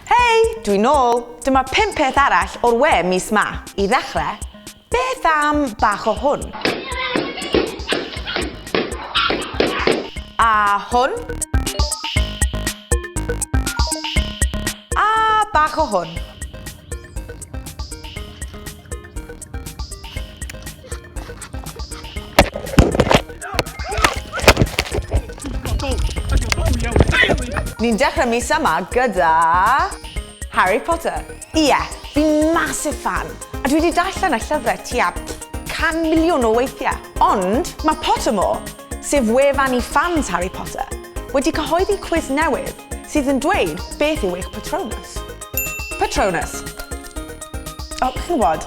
Hei, dwi'n nôl. Dyma pum peth arall o'r we mis ma. I ddechrau, beth am bach o hwn? A hwn? A bach o hwn? Ni'n dechrau mis yma gyda Harry Potter. Ie, yeah, fi'n massive fan, a dwi wedi darllen y llyfrau tua 100 miliwn o weithiau. Ond mae Pottermore, sef wefan i fans Harry Potter, wedi cyhoeddi cwiz newydd sydd yn dweud beth yw eich Patronus. Patronus. O, chi'n gwybod,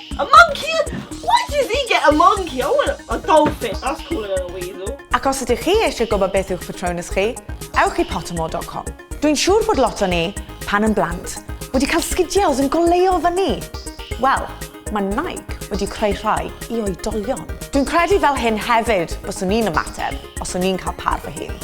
A monkey! Why did he get a monkey? I want a dolphin. That's cooler than a weasel. Ac os ydych chi eisiau gwybod beth yw'ch Patronus chi, ewch i pottermore.com. Dwi'n siŵr bod lot o ni, pan yn blant, wedi cael sgidiau oedd yn goleuo fyny. Wel, mae Nike wedi creu rhai i oedolion. Dwi'n credu fel hyn hefyd byswn i'n ymateb os o'n i'n cael par fy hun.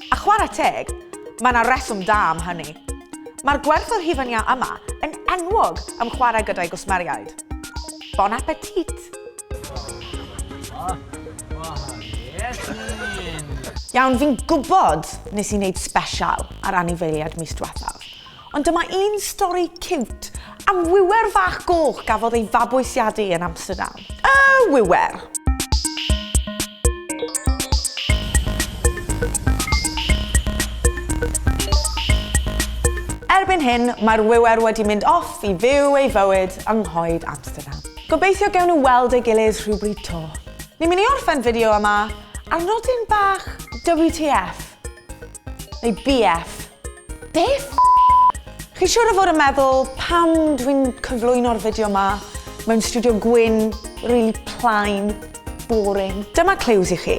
A chwarae teg, mae 'na reswm da am hynny. Mae'r gwerth o hufen iâ yma yn enwog am chwarae gyda'i gwsmeriaid. Bon appetit! Iawn, fi'n gwybod nes i wneud sbesial ar anifeiliaid mis dwethaf, Ond dyma un stori ciwt am wiwer fach goch gafodd ei fabwysiadu yn Amsterdam. Y wiwer! Erbyn hyn, mae'r wiwer wedi mynd off i fyw ei fywyd yng nghoed Amsterdam. Gobeithio gewn nhw weld ei gilydd rhywbryd to. Ni'n mynd i orffen fideo yma ar nodyn bach WTF, neu BF. Be f***? Chi siŵr o fod yn meddwl pam dwi'n cyflwyno'r fideo ma mewn studio gwyn rili plain, boring. Dyma clues i chi.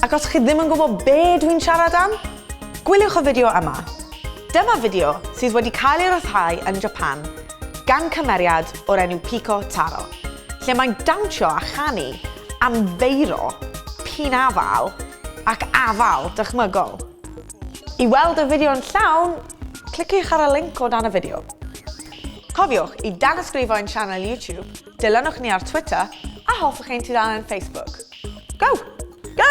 Ac os chi ddim yn gwybod be dwi'n siarad am, gwyliwch y fideo yma. Dyma fideo sydd wedi cael ei ryddhau yn Japan gan cymeriad o'r enw Pico Taro, lle mae'n dawnsio a chanu am feiro p'un a fal ac afael dychmygol. I weld y fideo yn llawn, cliciwch ar y linc o dan y fideo. Cofiwch i danysgrifo ein sianel YouTube, dilynwch ni ar Twitter a hoffwch ein tudalen Facebook. Go! Go!